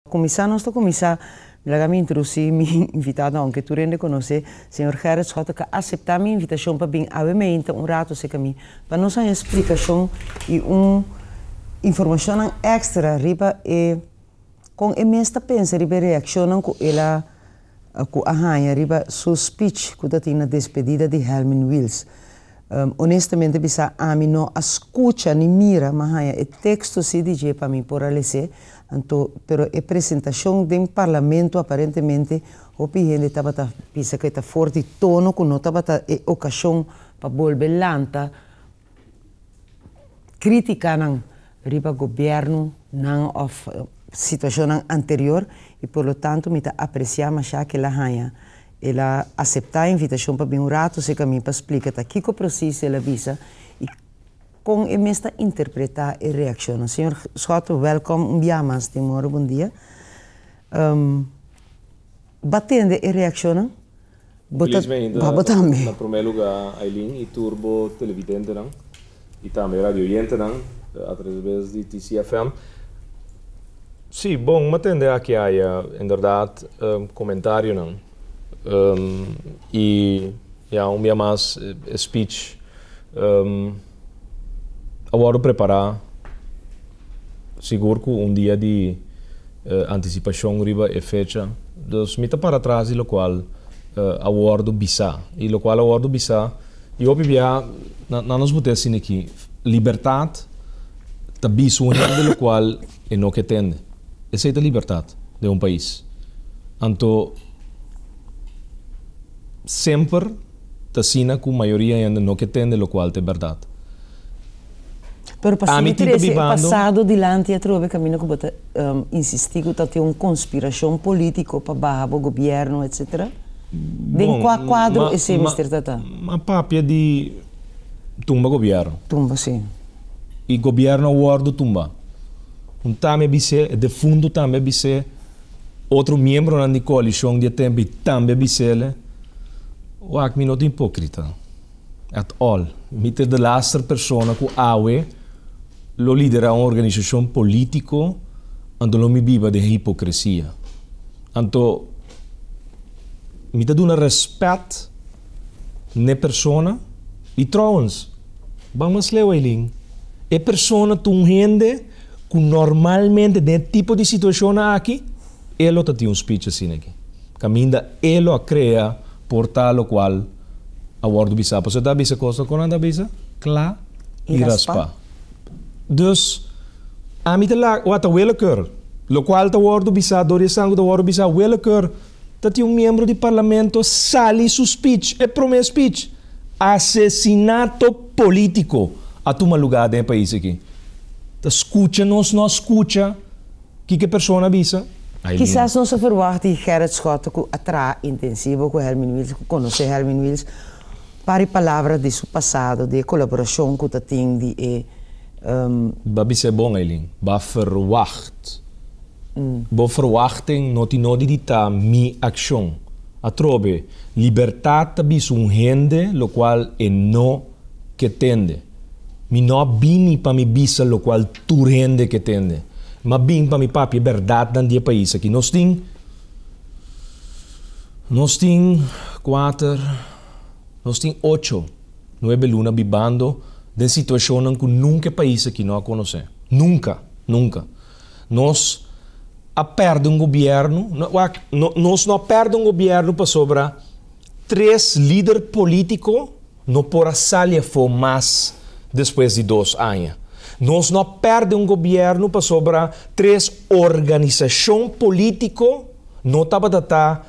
Kuminsá nos ta kuminsá laga mi introducí mi invitado aunke tur hende konos'é, señor Gerrit Schotten ka aseptá mi invitashon pa bin awe me hinta un rato serka mi pa nos haña splikashon i un informashonnan èkstra riba e kon e mes ta pensa riba e reakshonnan ku el a ku a haña riba su speech ku ta tin na despedida di Helmin Wiels. Onestamente bisa ami no a skucha ni mira m'a haña e teksto si di dje pa mi por a les'é, anto pero e presentashon den parlamento aparentemente hopi hende tabata bisa ku e ta for di tono ku no tabata e okashon pa bolbe lanta críticanan riba gobiernonan of situacionnan anterior y por lo tanto mi ta aprecia masha que el a haya, el a acepta invitacion pa bin un rato cerca mi pa splica ta kico precies el a bisa y con e mes ta interpreta e reaccionnan. Señor Schotten welcome un bia mas Timor buen dia. Ba tende e reaccionnan? Bo ta baba tambe. Na prome luga Aylin y tur bo televidentenan y tambe radioyentenan a traves di TCFM. Si, bon m'a tende aki aya inderdaad comentarionan y ya un bia mas e speech. A wòrdu prepará sigur ku un dia di antisipashon riba e fecha. Dus mi ta para tras di lokual a wòrdu bisá. I lokual a wòrdu bisá i hopi biaha nan nos bot'e asina aki, Libertat ta bisa un hende lokual e no ke tende. Esei ta libertat den un pais. Anto semper. T'asina cu mayoria hende no ke tende locual t'e berdad. Pero pa Ami tin ta sintitresce e bibando. pasado dilanti atrobe camino cu bo ta insisti cu ta tin un conspiracion politico pa baha bo gobierno etc. Den Bon, cua cuadro ma, esey ma, mester ta ta? ma papia di tumba gobierno. Tumba, si. Y gobierno a wordo tumba. Un tami a bis'é, e defunto tambe a bis'é. Otro miembronan di coalicion di e tempi tambe bis'el, Wak mi no ta ipocrita at all. Mi ta e delaster persona cu awe lo lidera un organisacion politico anto lo mi biba den hipocresia. Anto mi ta duna respet n'e persona. Y trouwens, ban mas leu Eileen, e persona ta un hende. Cu normalmente den e tipo di situacionnan aki, e lo ta tin un speech asina aki, caminda e lo a crea porta locual a wordo bisa. Pasobra e ta bisa cos locual nan ta bisa cla y raspa. Dus, ami ta laga, wata, weleker, locual ta wordo bisa dor di esan cu ta wordo bisa weleker. ta tin un miembro di parlamento sali su speech, e prome speech, Asesinato politico a tuma lugar den e pais aki. Ta scucha nos no a scucha kiko e persona a bisa? Kisas nos a ferwacht di Gerrit Schotten cu a traha intensivo cu Hermine Wils, cu conoce Hermine Wils pa di palabra di su pasado, di e colaboracion cu ta tin di e. Ba bisa e bon Eileen, ba ferwacht. Bo ferwachting no tin nodi di ta mi akshon. Atrobe, libertat ta bisa un hende lokual e no ke tende. Mi no a bini pa mi bisa lokual tur hende ke tende. M'a bin pa mi papia e bèrdatnan di e pais aki. Nos tin Nos tin kuater Nos tin ocho, nuebe luna bibando den situashonnan ku nunka e pais aki no a konosé. Nunka! Nunka! Nos a perde un gobierno, wak, nos no a perde un gobierno pasobra tres lider politico no por a sali afo mas despues di dos aña. Nos no a perde un gobierno pasobra tres organisacion politico no tabata ta,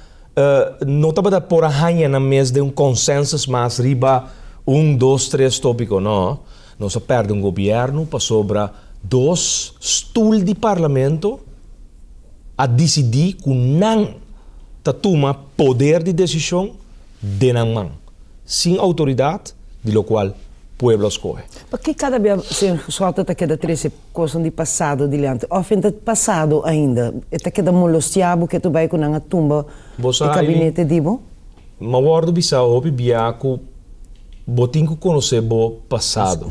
no tabata por a haña nan mes den un consensus mas riba un, dos, tres topico, no. Nos a perde un gobierno pasobra dos stul di parlamento a dicidi cu nan ta tuma poder di decision den nan man, sin autoridad di locual pueblo a scohe. Paki cada bia Señor Cuswalto ta keda trece Kosnan di pasado diliante. Of e ta pasado ainda. E ta keda molosia bo ke tur bay ku nan a tumba e kabinete di bo? M'a wòrdu bisa hopi biaha ku bo tin ku konosé bo pasado.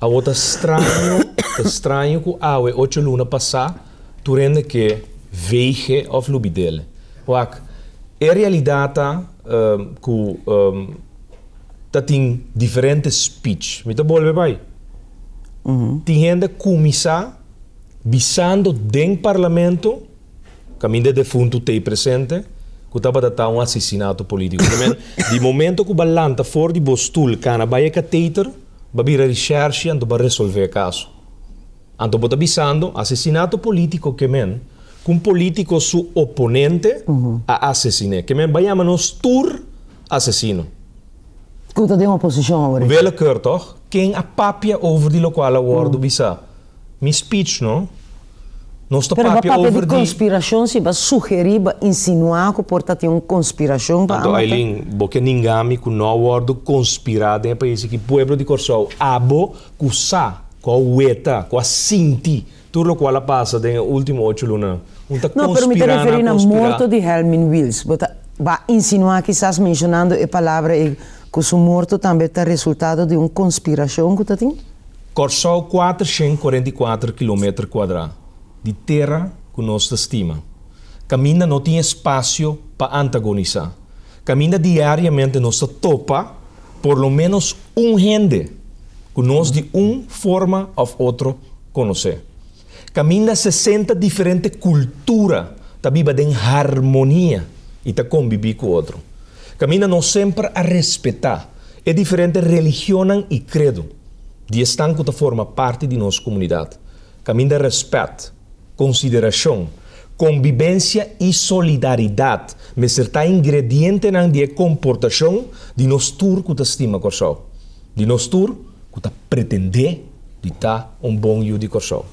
Awor ta straño, ta straño ku awe ocho luna pasá tur hende ke veige of lubidele. Wak, e realidat ta ku. ta tin diferente speech. Mi ta bolbe bai. Tin hende kuminsá bisando den parlamento, kaminda e defuntu t'ei presente, ku tabata ta un asesinato polítiko. Di manera di momento ku b'a lanta for di bo stul kana bai e kateiter, b'a bira di shèrshi anto b'a resolv'é e kaso. Anto bo ta bisando asesinato polítiko ke men ku un polítiko su oponente a asesin'é. Ke men b'a yama nos tur. asesino. Cu ta den oposicion awor aki. Willekeur toch ken a papia over di locual a wordo bisa. Mi speech no. Nos ta papia over di. Pero bo papia di conspiracion si bo a sugeri, bo a insinua cu por ta tin un conspiracion pa a mata. Anto Ailin, bo ke ninga mi cu no a wordo conspira den e pais aki. Pueblo di Corsou abo cu sa, cu a weta, cu a sinti Tur lokual a pasa den e ultimo ocho luna, un ta conspira na conspira. No, pero mi ta referi na morto di Helmin Wiels. Bo ta ba insinua kisas mencionando e palabra ei cu su morto tambe ta resultado di un conspiracion cu ta tin? Kòrsou kuatershent kuarenta i kuater kilometer kuadrá di tera ku nos ta stima. Kaminda no tin espasio pa antagonisá. Kaminda diariamente nos ta topa por lo ménos un hende ku nos di un forma òf otro Conoce. Caminda sesenta diferente cultura ta biba den harmonia y ta conbibi cu otro. Caminda nos semper a respeta e diferente religionnan y credo di esnan cu ta forma parti di nos comunidad. Caminda respet, consideracion, conbibencia y solidaridad mester ta ingredientenan di e comportacion di nos tur cu ta stima Corsou. di nos tur cu ta pretendé di ta un bon yu di Corsou.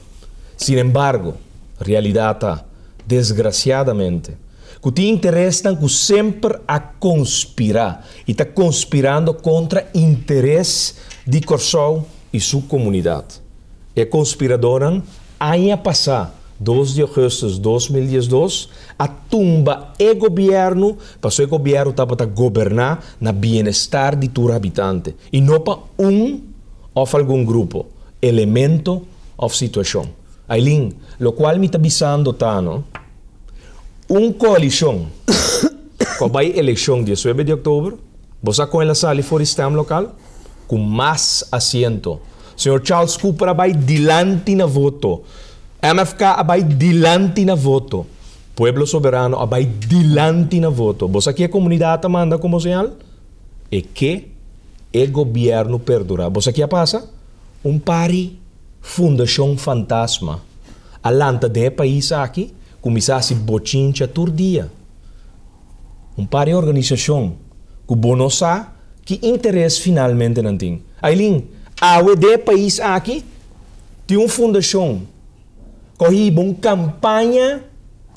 Sin embargo, realidad ta, desgraciadamente, cu tin interesnan cu semper a conspira y ta conspirando contra interes di Corsou y su comunidad. E conspiradornan Aña pasá, dos di augustus dos mil diesdos, a tumba e gobièrnu pasobra e gobièrnu tabata goberná na bienestar di tur habitante i no pa un òf algun grupo, elemento òf situashon. Ailin, Lokual mi ta bisando ta no, un koalishon ku a bai elekshon diesnuebe di oktober, bo sa kon el a sali for di stèm lokal? Ku mas asiento. Señor Charles Cooper a bai dilanti na voto. MFK a bai dilanti na voto. Pueblo Soberano a bai dilanti na voto. Bo sa ke e comunidad ta manda como señal? E ke e gobierno perdura. Bo sa ke a pasa? Un pari fundacion fantasma a lanta den e pais aki, cuminsa haci bochincha tur dia. Un par di organisashon ku bo no sa ki interes finalmente nan tin. Ailin, awe dé pais aki tin un fundashon ku a hiba un kampaña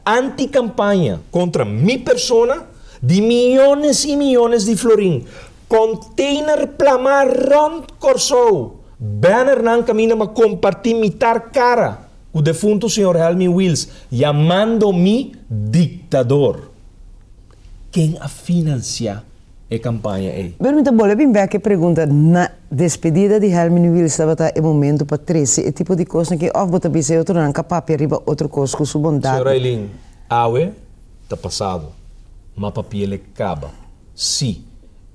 antikampaña kontra mi persona di miyones i miyones di florin, konteiner plamá rònt Kòrsou, bènernan kaminda pa kompartí mitar kara. Ku defuntu señor Helmy Wils yamando mi diktador. Ken a finansiá e kampaña ei? Pero mi ta bolbe bin bèk e pregunta na. Despedida di Helmy Wils tabata e momentu pa trese e tipo di kosnan ke òf bo ta bisa e otronan ka papia riba otro kos ku su bondat. Señor Aylin, Awe ta pasado, ma papia le kaba. Sí,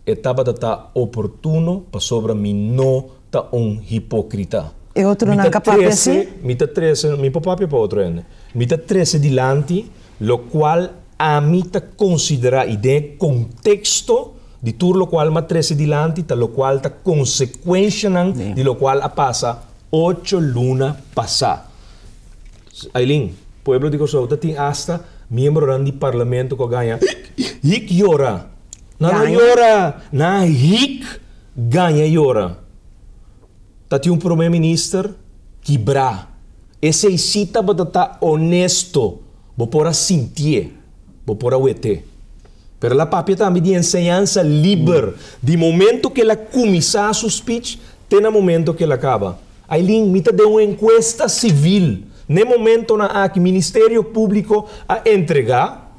e tabata ta oportuno pasobra mi no ta un hipokrita. E otronan ka papia así? Mi ta trese, mi por papia pa otro hende. Mi ta trese dilanti lokual ami ta konsiderá, i den e konteksto di tur lokual mi a trese dilanti ta lokual ta konsekuenshanan di lokual a pasa ocho luna pasá. Aylin, pueblo di Kòrsou ta tin asta miembronan di parlamento ku a gaña hik, hik, hik yora. Nan lo yora, nan a hik. Gaña y ora ta tin un prome minister ki bra. Esey si tabata ta onesto, bo por a sintié, bo por a wet'é. Pero el a papia tambe di enseñansa liber, di momento ke el a kuminsá su speech te na momento ke el a kaba. Aylin, mi ta den un enkuesta sivil n'e momentonan aki. Ministerio Públiko a entregá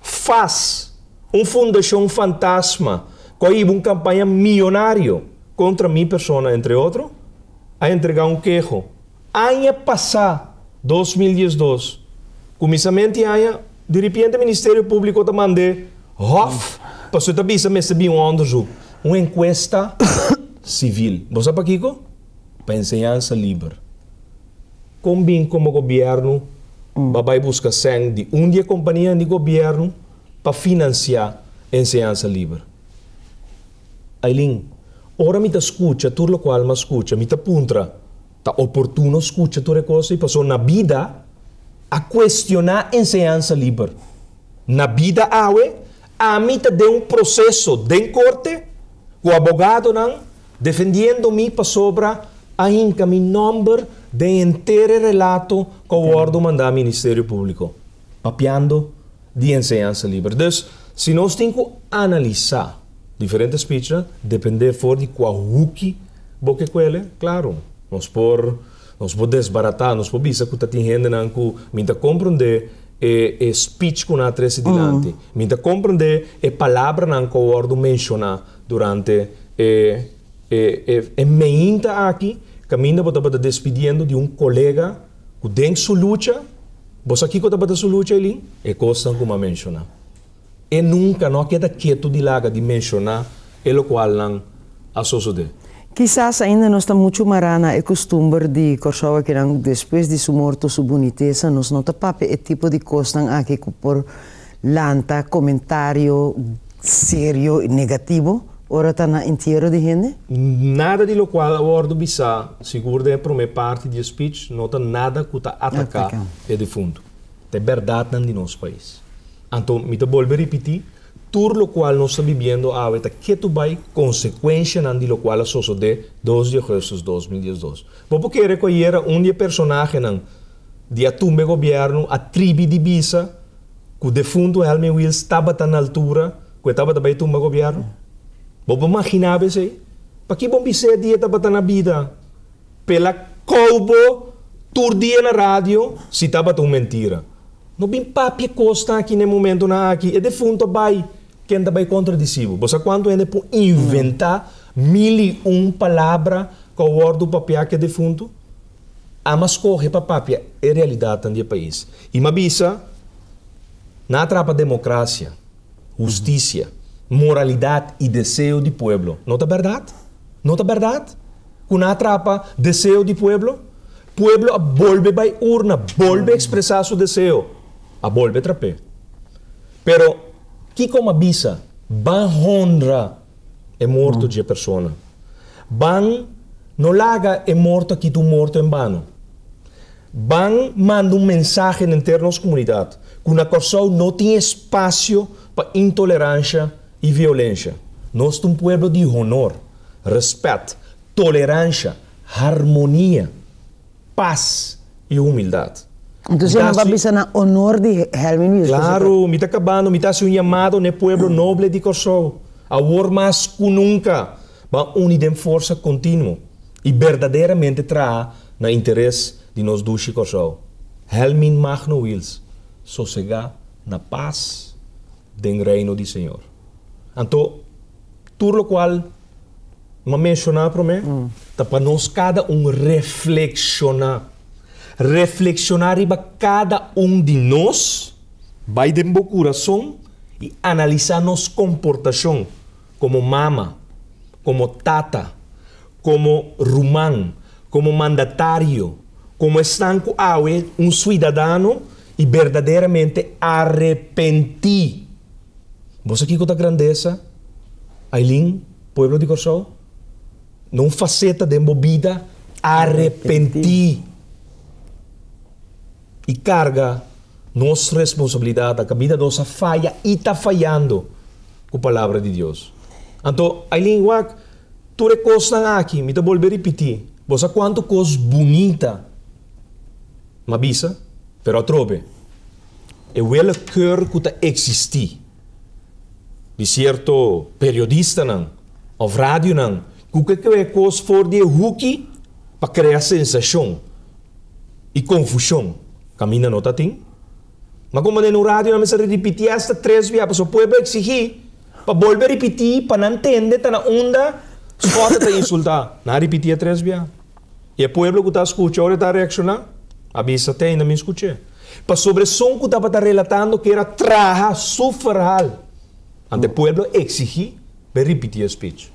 fas un fundashon fantasma. Koiba un kampaña miyonario kontra mi persona, entre otro, a entregá un keho. Aña pasá, dos mil dies dos, kuminsament di aña, diripiente Ministerio Públiko ta mand'é hòf pa su ta bisa mester bin un òndersuk, un enkuesta sivil. Bo sa pakiko? Pa enseñansa liber. Kon bin komo gobièrnu ba bai buska sèn di un di e kompanianan di gobièrnu pa finansiá e enseñansa liber. Aileen, Ora mi ta skucha tur loke Alma a skucha, mi ta puntra, Ta oportuno skucha tur e kos ei? Pasobra na bida a kuestioná e enseñansa liber. Na bida awe, ami ta den un proseso den korte ku abogadonan defendiendo mi pasobra a hinka mi nòmber den henter e relato ku a wòrdu mandá Ministerio Públiko. Papiando di enseñansa liber. Dus, si nos tin ku analisá diferente spichnan, dependé for di kua huki bo ke kuele, klaru, nos por nos por desbaratá, nos por bisa ku ta tin hendenan ku mi ta komprondé e e spich ku nan a trese dilanti, mi ta komprondé e palabranan ku a wòrdu menshoná durante e e e meinta aki kaminda bo tabata despidiendo di un kolega Cu den su lucha, bo sa kico tabata su lucha Elie? E cosnan cu m'a menciona. E nunca no a keda ketu di laga di menciona e locualnan a sosode. Kisas ainda nos ta muchu mará na e custumber di Corsouakinan, despues di su morto su bunitesa, nos no ta papia e tipo di cosnan aki cu por Lanta komentario serio i negativo ora ta na entiero di hende? Nada di lokual a wòrdu bisá, sigur den e promé parti di e spich, no ta nada ku ta ataká e difuntu. Ta e bèrdatnan di nos pais. Anto mi ta bolbe ripití, tur lokual nos ta bibiendo awe ta ketu bai konsekuenshanan di lokual a sosodé dos di augustus dos mil diesdos. Bo por kere ku ayera un di e personahenan, Di atumbe e gobierno a tribi di bisa cu defunto Helmy Wils tabata na altura cu e tabata bay tumba gobierno? Bo por maginabo esey? Paki bo bis'e di e tabata na bida? Pela cou bo tur dia na radio si tabata un mentira. No bin papia e cosnan aki n'e momentonan aki. E defunto bay, ken ta bay contradici bo? Bo sa cuanto hende por inventa mil y un palabra cu a wordo papia cu e defunto? Ama skohe pa papia e realidatnan di e pais i ma bisa, Nan a trapa demokrasia, hustisia, moralidat i deseo di pueblo. No ta bèrdat? No ta bèrdat ku nan a trapa deseo di pueblo? Pueblo a bolbe bai urna, bolbe ekspresá su deseo, a bolbe trap'é. Pero kiko Nan a bisa? Ban honra. e morto dje persona. Ban no laga e morto a kita un morto en bano. Ban manda un mensahe den ter nos komunidat ku na Kòrsou no tin espasio pa intoleransha i violensha. Nos ta un pueblo di honor, respèt, toleransha, harmonia. pas i humildat. Entonces mi ta haci. Entonces no bisa na honor di Helmi mismo. Claro, mi ta cabando, mi ta haci un llamado na e pueblo noble di Corsou, awor mas cu nunca, ban uni den forsa continuo i berdaderamente traha na interes di nos dushi Corsou. Helmin Magno Wils, sosega na pas. den Reino di Señor. Anto, tur locual N'ha menciona prome ta pa nos cada un reflexiona, reflexiona riba cada un di nos, bay den bo curazon y analisa nos comportacion como mama, como tata, como ruman, como mandatario, como esnan cu awe un suidadano i berdaderamente arepentí. Bo sa kiko ta grandesa, Ailin, pueblo di Kòrsou? Na un faseta den bo bida, arepentí i karga nos responsabilidat. A kabida nos a faya i ta fayando ku Palabra di Dios. Anto, Ailin, wak tur e kosnan aki. Mi ta bolbe ripití. Bo sa kuantu kos bunita. M'a bisa, pero atrobe, e willekeur ku ta eksistí di sierto periodistanan òf radionan ku ke kue kos for di e huki pa krea sensashon i konfushon, kaminda no ta tin. Ma komo den un radio nan mester ripití asta tres bia, pasobra pueblo a eksigí pa bolbe ripití pa nan tende ta na unda Scott ta insultá. Nan a ripitié tres bia. I e pueblo ku ta a skucha, ora e ta a reakshoná, a bisa, Te ainda min skuch'é? Pasobra esun ku tabata relatando ku era traha su ferhal, anta e pueblo a eksigí pa e ripitié e spich.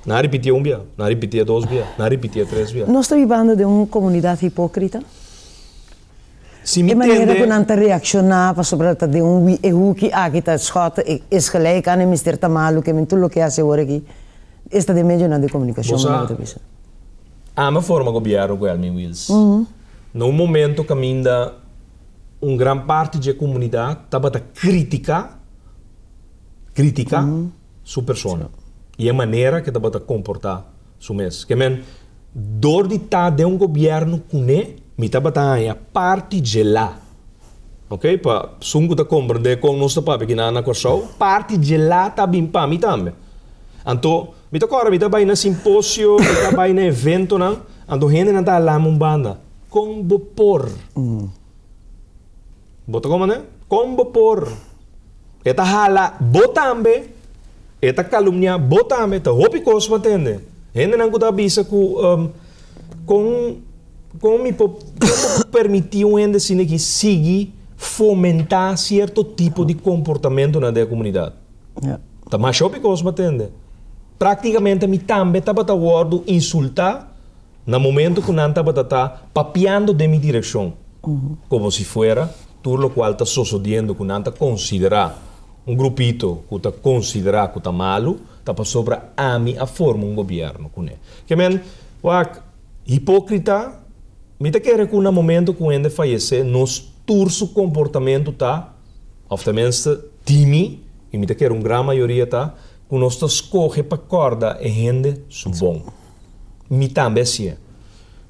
Nan a ripitié un bia, nan a ripitié dos bia, nan a ripitié tres bia. Nos ta bibando den un komunidat hipókrita? Si mi tende. E manera ku nan ta reakshoná pasobra ta den un wi e huki aki ta schot e esgelijk an e mester ta malu ke men tur lo ke hasi awor aki esta den medionan de komunikashon mi loke ta bisa. Bosa ama forma gobièrnu ku el mi Wils. Na un momento kaminda un gran parti dje komunidat tabata kritiká, kritika. su persona i e manera ke tabata komportá su mes. Ke men, dor di ta den un gobièrnu kuné. Mi tabata haña parti djelá, ok, pa sun ku ta komprendé kon nos ta papia kina na Kòrsou, parti djelá ta bin pa mi tambe. Anto, mi ta kòrda mi ta bai na simposio, mi ta bai na eventonan, anto hendenan ta hala mi un banda, Kon bo por? Bo ta comane? Con bo por? E ta hala bo tambe, e ta calumnia bo tambe, ta hopi cos bo a tende. Hendenan cu ta bisa cu, con, con mi por, con bo por permiti un hende asina aki sigui fomenta cierto tipo di comportamentonan den e comunidad? Ta masha hopi cos bo a tende. Practicamente mi tambe tabata wordo insulta. Na momento cu nan tabata ta papiando den mi direccion, como si fuera tur locual ta sosodiendo cu nan ta considera, un grupito cu ta considera cu ta malu, ta pasobra ami a forma un gobierno cu ne. Ke men, wak, hipocrita, mi ta kere cu na momento cu hende fayece, nos tur su comportamento ta, of tenminste di mi, y mi ta kere un gran mayoria ta, cu nos ta scoge pa corda e hende su bon. Mi tambe asie.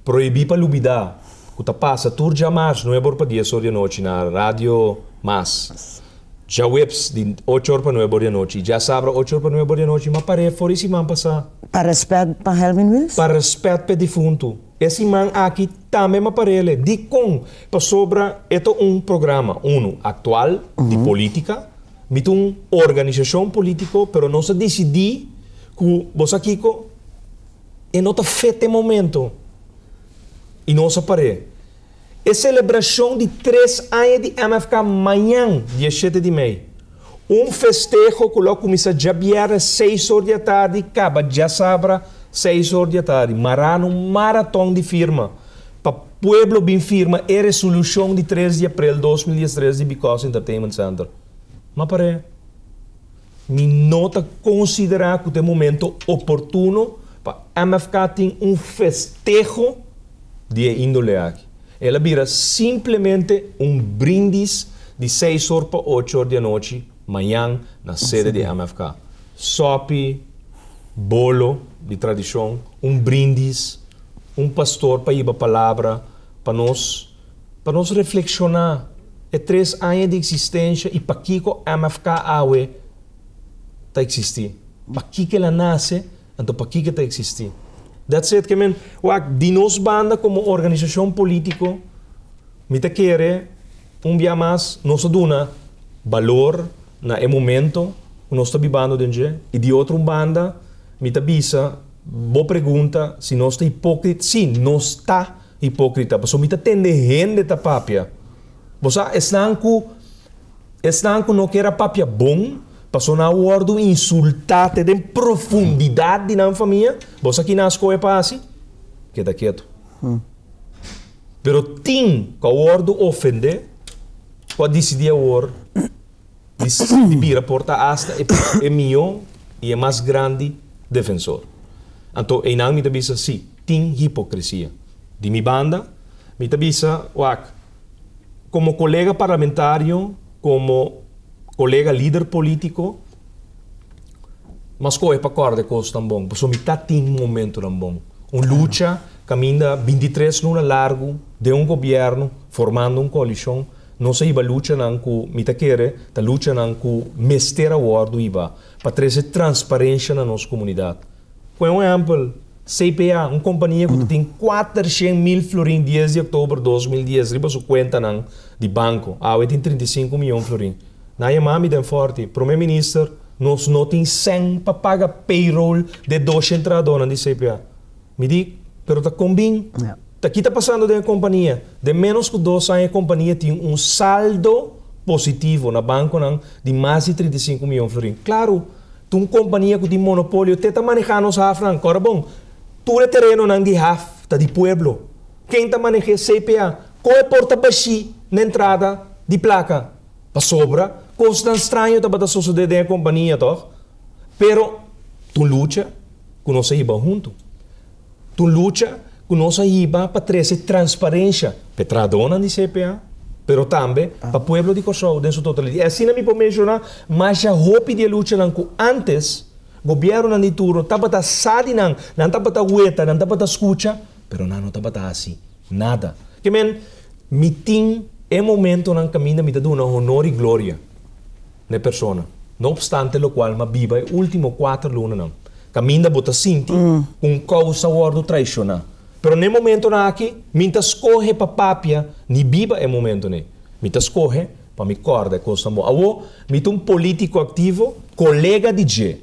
Prohibí pa lubidá ku ta pasa tur djamas nuebe or pa dies or di anochi na Radio Mas. Djaweps di ocho or pa nuebe or di anochi i djasabra ocho or pa nuebe or di anochi. Ma par'é for e siman pasá. Pa rèspèt pa Helwin Wils? Pa rèspèt pa e difuntu. E siman aki tambe ma par'é lé. Dikon? Pasobra e ta un programa, unu, aktual, di polítika. Mi ta un organisashon polítiko, pero nos a disidí ku, bo sa kiko, e no ta fet e momentu. I nos a par'é. E selebrashon di tres aña di MFK mañan, di e shete di mei. Un festeho ku lo a kuminsá djabièrnè seis or di atardi, kaba djasabra seis or di atardi. Mará na un maraton di firma pa. Pueblo bin firma e resolucion di tres di aprel dos mil diestres di Bicos Entertainment Center. Ma par'e mi no ta considera cu ta e momento oportuno pa MFK tin un festeho di e indole aki. El a bira simplemente un brindis di seis or pa ocho or di anochi, Mañan na sede di MFK. Sopi, bolo di tradishon, un brindis, un pastor pa hiba palabra pa nos, pa nos reflekshoná e tres aña di eksistensha i pakiko MFK awe ta eksistí, pakiko el a nase, anto pakiko e ta eksistí. That's it, ke men wak di nos banda komo organisashon polítiko. Mi ta kere un bia mas nos a duna balor na e momento ku nos ta bibando den dje. I di otro un banda mi ta bisa bo pregunta si nos ta hipókrita. Sí, nos ta hipókrita, pasobra mi ta tende hende ta papia. Bo sa, esnan ku esnan ku no kier a papia bon pasobra nan a wòrdu insultá te den profundidat di nan famia, bo sa kinas kohe pa hasi? Keda ketu. Pero tin cu a wordo ofende cu a dicidi awor di bira porta hasta e pue e miyo y e mas grandi defensor. Anto eynan mi ta bisa si, tin hipocresia. Di mi banda, mi ta bisa, wak, como colega parlamentario, como colega lider politico, Mas kohe pa kòrda e kosnan bon, pasobra mi ta tin momentunan bon. Un lucha kaminda bintitres luna largu den un gobièrnu, formando un koalishon, nos a hiba luchanan ku mi ta kere ta luchanan ku mester a wòrdu hiba pa trese transparensha na nos komunidat. Pone un ehèmpel, CPA, un kompania ku ta tin kuater shen mil florin dies di oktober dos mil dies riba su kuentanan di banko, awe tin trinta i sinku miyon florin. Na e mami den forti, Prome Minister, nos no tin sèn pa paga payroll d'e dos shen trahadónan di CPA. Mi di, Pero ta kon bin? Ta ki ta pasando den e kompania? Den ménos ku dos aña e kompania tin un saldo positivo na bankonan di mas di trinta i sinku miyon florin. Klaru, ta un kompania ku tin monopolio te ta manehá nos hafnan. Kòrda bon, tur e terenonan di haf ta di pueblo. Ken ta maneh'é? CPA. Kon e por ta bashí na entrada di plaka? Pasobra kosnan straño tabata sosodé den e kompania, tòg? Pero ta un lucha ku nos a hiba huntu. Ta un lucha ku nos a hiba pa trese transparensha p'e trahadónan di CPA, pero tambe pa pueblo di Kòrsou den su totalidat. I asina mi por menshoná masha hopi di e luchanan ku ántes gobièrnunan di turno tabata sa di nan, nan tabata weta, nan tabata skucha, pero nan no tabata hasi. Nada. Ke men, mi tin e momentonan kaminda mi ta duna honor i gloria na e persona. No opstante lokual mi a biba e último kuater lunanan kaminda bo ta sinti ku un kousa wòrdu traishoná. Pero n'e momentonan aki mi ta skohe pa papia ni biba e momentonan ei. Mi ta skohe pa mi kòrda e kosnan bon. Awor mi ta un polítiko aktivo, kolega di dje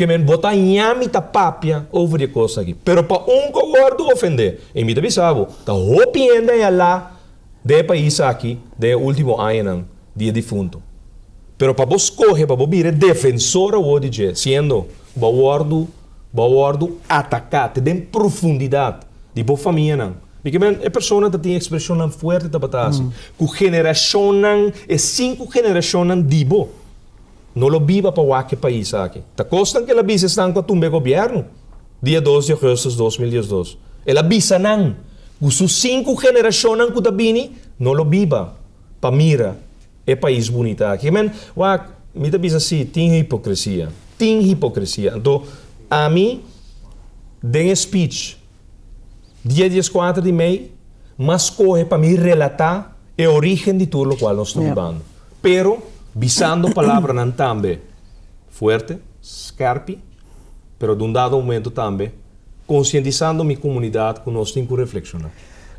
Ke men bo ta ña mi ta papia over e kos aki. Pero pa un ku a wordu ofendé, e mi ta bisa bo, ta hopi hende a yalá den e pais aki den e último añanan di e difuntu. Pero pa bo skohe pa bo bira e defensor awor di dje, siendo ku bo a wordu bo a wordu ataká te den profundidat di bo famianan, mi ke men e persona ta tin ekspreshonnan fuerte tabata hasi ku generashonnan, e sinku generashonnan di bo. No lo biba pa wak e pais aki. Ta kosnan ku el a bisa esnan ku a tumba e gobièrnu, dia dos di ogùstùs dos mil diesdos. El a bisa nan ku su sinku generashonnan ku ta bini no lo biba pa mira e pais bunita aki. Kiman wak, mi ta bisa si, tin hipokresia. Tin hipokresia. Anto, ami den e speech Dia di eskuater di mei m'a skohe pa mi relatá e orígen di tur lokual nos ta bibando, pero bisando palabranan tambe fuerte, skèrpi, pero den un dado momento tambe konsientisando mi komunidat ku nos tin ku reflekshoná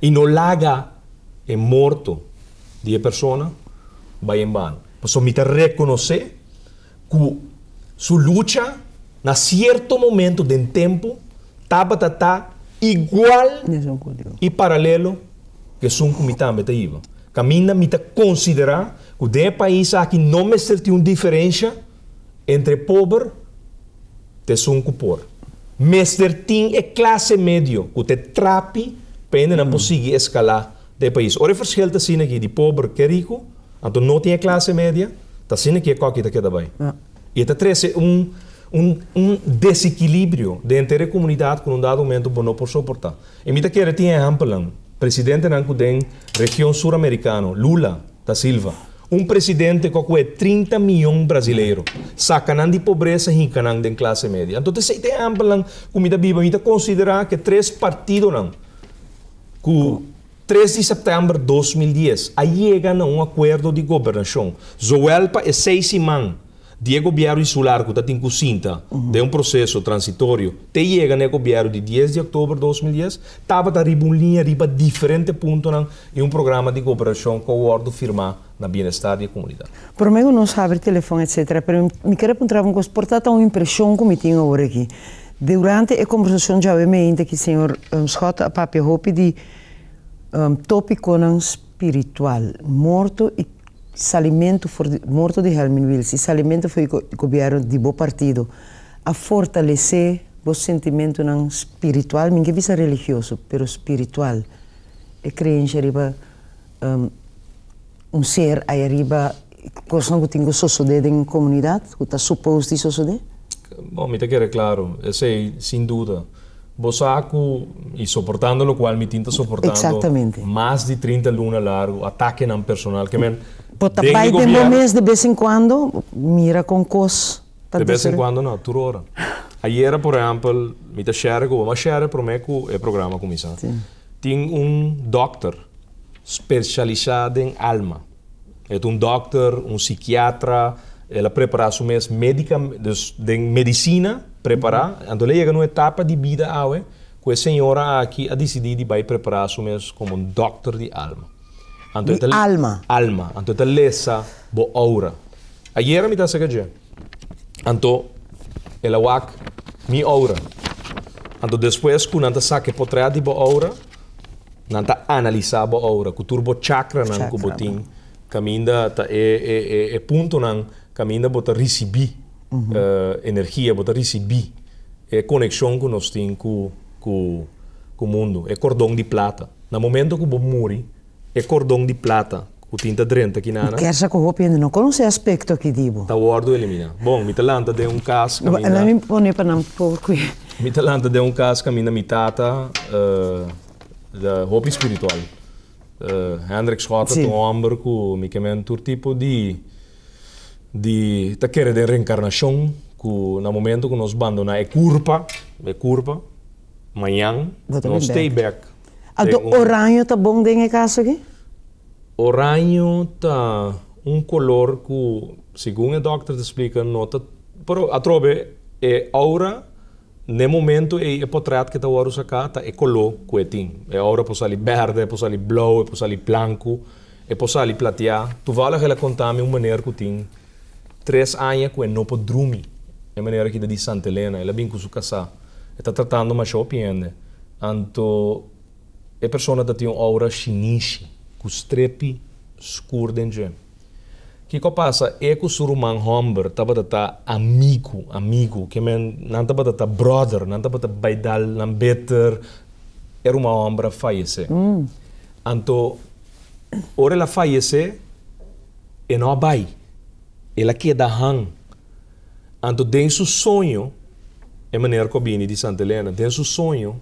i no laga e morto di e persona bai en bano, pasobra mi ta rekonosé. ku su lucha na sierto momento den tempu tabata ta igual i paralelo ku esun ku mi tambe ta hiba. Kaminda mi ta konsiderá ku den e pais aki no mester tin un diferensha entre pober ta esun ku por. Mester tin e klase medio ku ta e trapi pa hendenan por sigui eskalá ta e pais. Ora e verschil ta asina aki di pober ke riku, anto no tin e klase media, ta asina aki e koki ta keda bai. I e ta trese un un un desekilibrio den henter e komunidat ku un dado momento bo no por soportá. I mi ta kere tin ehèmpelnan, presidentenan ku den region suramerikano, Lula da Silva, un presidente ku a kuhé trinta miyon brasileiro, saka nan di pobresa, hinka nan den klase media. Anto ta esei te ehèmpelnan ku mi ta biba. Mi ta konsiderá ku e tres partidonan, ku tres di sèptèmber dos mil dies a yega na un akuerdo di gobernashon zowel pa e seis siman di e gobièrnu insular ku ta tin ku sinta den un proseso transitorio te yega na e gobièrnu di dies di oktober dos mil dies tabata riba un liña riba diferente puntonan i un programa di goberashon ku a wòrdu firmá na bienestar di e comunidad. Prome cu nos habri telefon etc. Pero mi kier a puntraba un cos, por ta ta un impresion cu mi tin awor aki. Durante e conversacion djawe mi hint aki Señor Schott a papia hopi di topiconan spiritual, morto y salimento for di, morto di Helmin Wiels y salimento for di gobierno di bo partido a fortalece bo sentimentonan spiritual, mi no kier bisa religioso, pero spiritual, e creencia riba un ser ayariba cosnan cu tin cu sosode den un comunidad cu ta supposed di sosode? Bo, mi ta kere claro, esey sin duda. Bo sa cu, y soportando locual mi tin ta soportando mas di trinta luna largu atakenan personal, ke men den di gobierno. Bo ta bay den bo mes de bes en cuando mira con cos. De bes en cuando no, tur ora. Ayera por ehempel mi ta share cu bo, mi a share prome cu e programa cuminsa. Tin un dokter specialisa den alma. E ta un dokter, un psikiatra, el a prepara su mes medica, dus den medicina prepara. Anto el a yega na un etapa di bida awe cu e señora aki a dicidi di bay prepara su mes como un dokter di alma. Anto e ta. Mi alma. Alma. Anto e ta lesa bo oura. Ayera mi ta hacer caje. Anto el a wak mi oura. Anto despues cu nan ta saca e potret di bo oura, nan ta analisa bo oura cu tur bo chakranan cu bo tin caminda ta e puntonan caminda bo ta ricibi energia, bo ta ricibi e conexion cu nos tin cu. ku mundu, e kordon di plata. Na momento ku bo muri, e kordon di plata ku tin ta drenta ki nana. Kersa ku hopi hende no konosé aspekto aki di bo. Ta wòrdu eliminá. Bon, mi ta lanta den un kas kaminda. Lèt mi pone pa nan por ku e. Mi ta lanta den un kas kaminda mi tata, ta hopi spiritual. Hendrik Schotten ta un hòmber ku mi kemen tur tipo di di ta kere den renkarnashon ku na momento ku nos bandoná e kurpa, e kurpa. Mañan nos ta ei bek den un. Ando oraño ta bon den e kas aki? Oraño ta un kolor ku segun e dòkter ta splika no ta pero atrobe e oura n'e momento ei e potrèt ke ta wòrdu saká ta e koló ku e tin. E oura por sali bèrdè, e por sali blou, e por sali blanku, e por sali platiá. Tuvallig el a kontá mi un maner ku tin Tres aña cu e no por drumi. E manera aki ta di Santa Elena. El a bin cu su casá. E ta tratando masha hopi hende. Anto e persona ta tin un aura shinishi, cu strepi scur den dje. Kico a pasa? E cu su ruman homber tabata ta amigo, amigo. Ke men, nan tabata ta brother. Nan tabata bay dal nan beter. E ruman homber a fayece. Anto, ora el a fayece. E no a bai, el a keda han. Anto den su soño, e meneer cu a bini di Santa Elena, den su soño,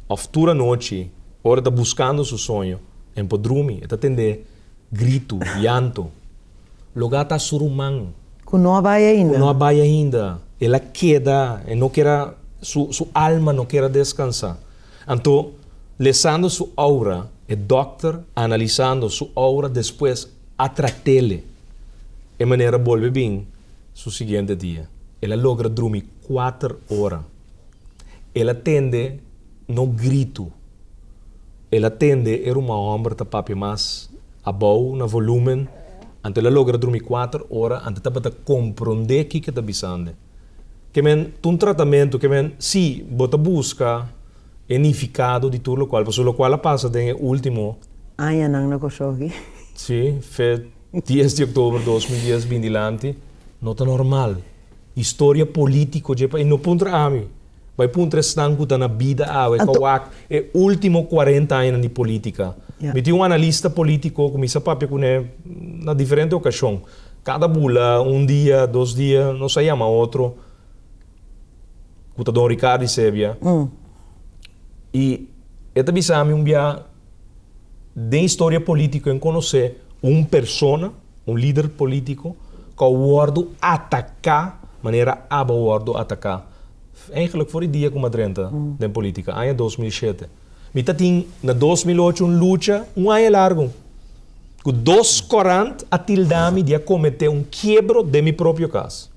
of tur anochi, ora e ta buscando su soño, e npo drumi, e ta tende grito, llanto. Loke a ta su ruman. Cu no a bai ainda. Cu no a bai ainda. El a keda, e no ker a, su alma no ker a descansa. Anto, lesando su oura, e dokter analisando su oura despues a tratele. E manera a bolbe bin su siguiente dia. El a logra drumi kuater ora. El a tende no gritu. El a tende e ruman hòmber ta papia mas abou na volúmen. Anto el a logra drumi kuater ora, anto tabata kompronde kiko ta bisande. Ke men ta un tratamentu ke men si bo ta buska e nifikado di tur lokual pasobra lokual a pasa den e ultimo. Añanan na Kòrsougi. Si, fe dies di oktober dos mil dies bindilanti. No ta normal. Historia polítiko dje pais no puntra ami. Bai puntra esnan ku ta na bida awe pa wak e último kuarenta añanan di polítika. Mi tin un analista polítiko ku mi sa papia kuné na diferente okashon. Kada bula, un dia, dos dia, nos a yama otro, ku ta don Ricardo Isebia, i e ta bisa mi un biaha, Den historia politico e conoce un persona, un lider politico, cu a wordo ataca manera aba wordo ataca, eigenlijk for e dia cu mi a drenta den politica, aña dos mil shete. Mi ta tin na dos mil ocho un lucha un aña largo, cu dos corant a tilda mi di a comete un quiebro den mi propio cas.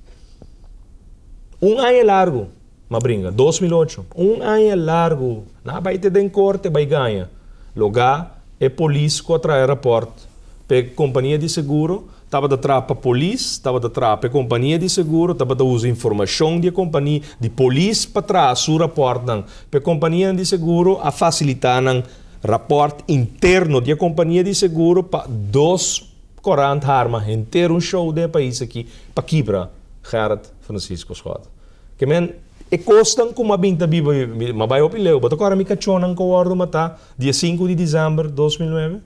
Un aña largo. M'a bringa. Dos mil ocho. Un aña largu. N'a bai te den korte bai gaña. Logá e polis ku a traha e rapòrt pa e kompania di seguro tabata traha pa polis, tabata traha pa e kompania di seguro, tabata usa informashon di e kompania di polis pa traha su rapòrtnan pa e kompanianan di seguro. A fasilitá nan rapòrt interno di e kompania di seguro pa dos korant harma henter un shou den e pais aki pa kibra, Gerrit Francisco Schotten. Ke men, e kosnan ku ma bin ta biba mi, ma bai hopi leu. Bo ta kòrda mi kachónan ku a wòrdu matá di e sinku di desèmber dos mil nuebe?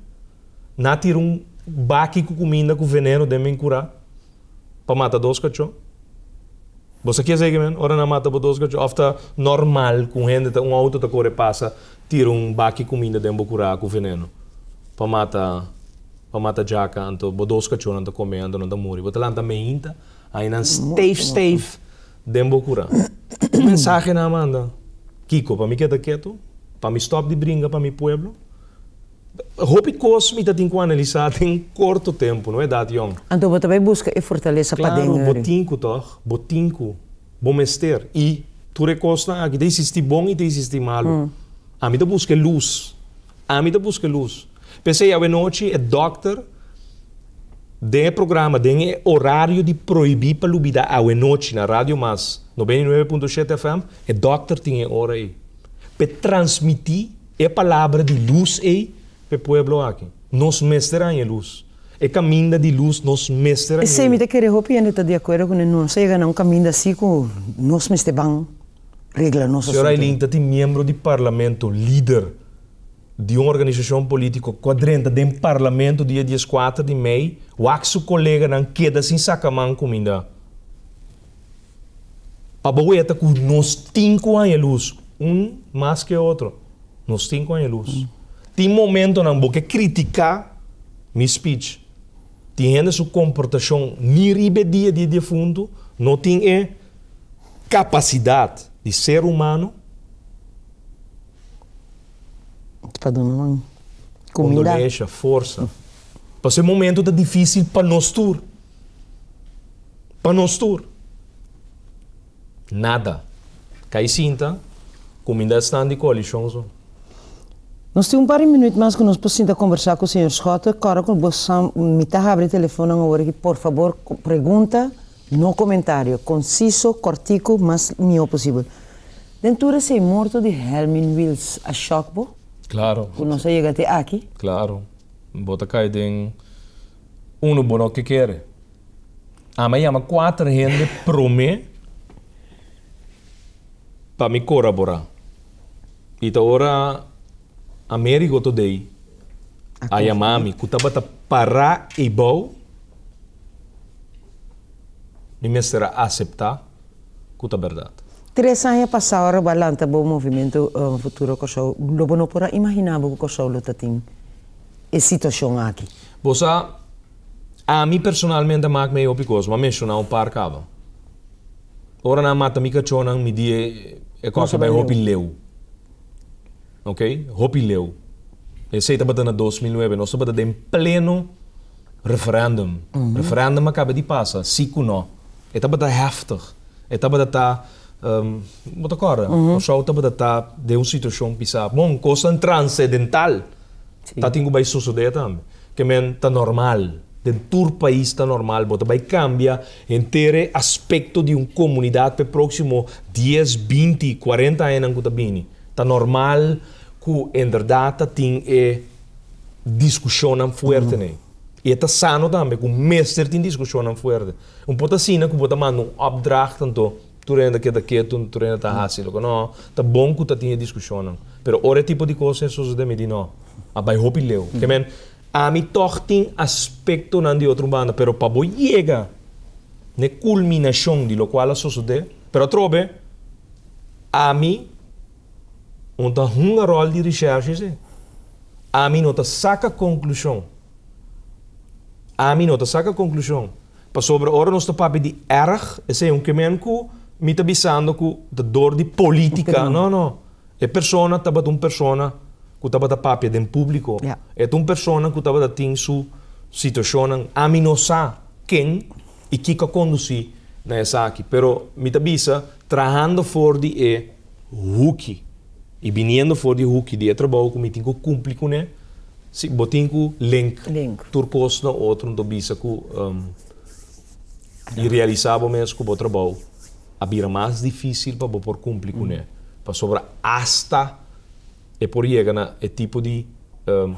Nan a tira un baki ku kuminda ku veneno den mi kurá pa mata dos kachó. Bo sa kier segue men, ora nan mata bo dos kachó? Òf ta nòrmal ku un hende ta un outo ta kore pasa tira un baki kuminda den bo kurá ku veneno pa mata pa mata djaka anto bo dos kachónan ta kome anto nan ta muri? Bo ta lanta meinta? Ainan steif steif den bo kura. Un mensahe nan a manda, Kiko, pa mi keda ketu, pa mi stop di bringa pa mi pueblo. Hopi kos mi ta tin ku analisa den un korto tempu, no e dat yòn. Anto bo ta bai buska e fortalesa paden yori. Klaru, bo tin ku tòg, bo tin ku bo mester. I tur e kosnan aki ta isisti bon i ta isisti malu. Ami ta buska e lus. Ami ta buska lus. P'esei awenochi e dòkter den e programa, den e orario di prohibí pa lubidá awenochi na Radio Mas noventa i nuebe punto shete FM, e dòkter tin e ora ei p'e transmití e palabra di lus ei p'e pueblo aki. Nos mester haña lus. E kaminda di lus nos mester haña ei. Esei mi ta kere hopi hende ta di akuerdo ku nan. Nos a yega na un kaminda así ku nos mester ban. regla nos asuntu. Señor Aylin ta tin miembro di Parlamento, lider di un organisacion politico cu a drenta den Parlamento dia diescuater di mei, wak su coleganan keda sin sacaman cuminda. Pa bo weta cu nos tin cu haña luz, un mas que otro, nos tin cu haña luz. Tin momentonan bo ke critica mi speech, tin hende su comportacion ni riba e dia di e defuntu no tin e capacidad di ser humano. Pa duna nan comida. Condolencia, forza. Pasobra e momento ta dificil pa nos tur. Pa nos tur. Nada. Cay sinta, comida a staan di coalition zo. Nos tin un par di minuut mas cu nos por sinta conversa cu señor Schotten. Cora cu bo sa mitad habri e telefoonnan awor aki, por fabor pregunta. No comentario, conciso, cortico, mas miho posibel. Den tur esey morto di Helmin Wils a shock bo? Claro. Cu nos a yega te aki? Claro. Bo ta cay den uno bo no ke kere. Ami a yama cuater hende prome pa mi corabora y ta ora Amerigo to dei a yama mi ku tabata pará ei bou, mi mester a aseptá ku ta bèrdat. Tres aña pasá ora bo a lanta bo movimentu Futuro Kòrsou, lo bo no por a imaginá bo ku Kòrsou lo ta tin e situashon aki? Bo sa, ami personalmente a mak mi ei hopi kos, bo a menshoná un par kaba. Ora nan a mata mi kachónan mi di e kòrka bai hopi leu. Ok, hopi leu. Esey tabata na dos mil nuebe. Nos tabata den pleno referendum. Referendum a caba di pasa, si cu no. E tabata heftig. E tabata ta, bo ta corda? Cor-sou tabata ta den un situacion pisa. Bon, cosnan transedental ta tin cu bay sosode tambe. Ke men ta normal. Den tur pais ta normal. Bo ta bay cambia. Henter e aspekto di un komunidat pa e próksimo dies, binti i kuarenta añanan ku ta bini. Ta normal ku inderdat ta tin e diskushonnan fuertenan. I e ta sano tambe ku mester tin diskushonnan fuerte. Un por ta asina ku bo ta manda un opdracht anto tur hende ta keda ketu, tur hende ta hasi loke nò. Ta bon ku ta tin e diskushonnan. Pero ora e tipo di kos ta sosodé mi di nò, a bai hopi leu. Ke men. Ami tòg tin aspektonan di otro banda, pero pa bo yega na e kulminashon di lokual a sosodé, pero atrobe ami no ta hunga ròl di reshèrshe esei. Ami no ta saka konklushon. Ami no ta saka konklushon. Pasobra ora nos ta papia di èrg, esei un kemen ku mi ta bisando ku ta dor di polítika. No, no. E persona tabata un persona ku tabata papia den públiko. E ta un persona ku tabata tin su situashonnan. Ami no sa ken i kiko a kondusí na esaki, pero mi ta bisa trahando for di e huki i biniendo for di e huki di e trabou ku mi tin ku kumpli kuné, si bo tin ku link tur kos na otro, mi ta bisa ku i realisá bo mes ku bo trabou. a bira mas difísil pa bo por kumpli kuné, pasobra asta e por yega na e tipo di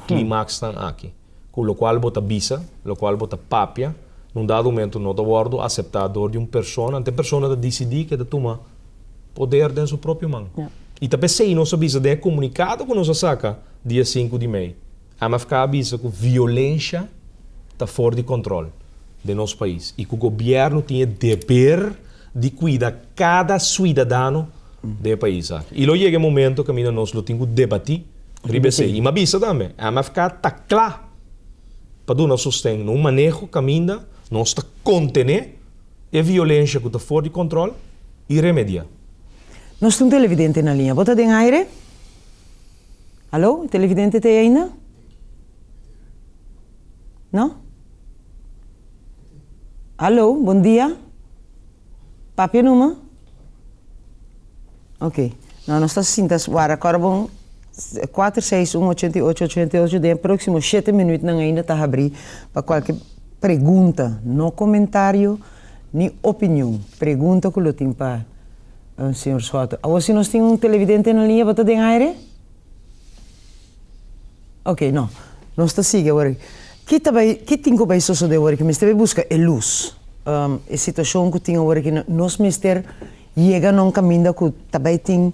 klímaksnan aki ku lokual bo ta bisa, lokual bo ta papia, na un dado momentu no ta wòrdu aseptá dor di un persona, anto e persona ta disidí ku e ta tuma poder den su propio man. I ta p'esei nos a bisa den e komunikado ku nos a saka dia sinku di mei, MFK a bisa ku violensha ta for di kontrol den nos pais i ku gobièrnu tin e deber di kuida kada suidadano den e pais aki. I lo yega e momentu kaminda nos lo tin ku debatí riba esei. I mi a bisa tambe, MFK ta kla pa duna sosten na un maneho kaminda nos ta kontené e violensha ku ta for di kontrol i remediá. Nos tin un televidente na liña. Bo ta den aire? Hallo, e televidente ta ei ainda? No? Hallo, bon dia. Papia e number? Ok. No, nos ta sinta wara kor bon kuater seis un ochenta i ocho ochenta i ocho den e proksimo shete minütnan ainda ta habrí pa kualke pregunta, no komentario ni opinion, pregunta ku lo tin pa. Señor Soto, awor si nos tin un televidente na liña bo ta den aire? Oke, no. Nos ta sigui awor. Ki ta bai, ki tin ku bai sosodé awor ki mester bai buska e lus? E situashon ku tin awor ki na, nos mester yega na un kaminda ku ta bai tin,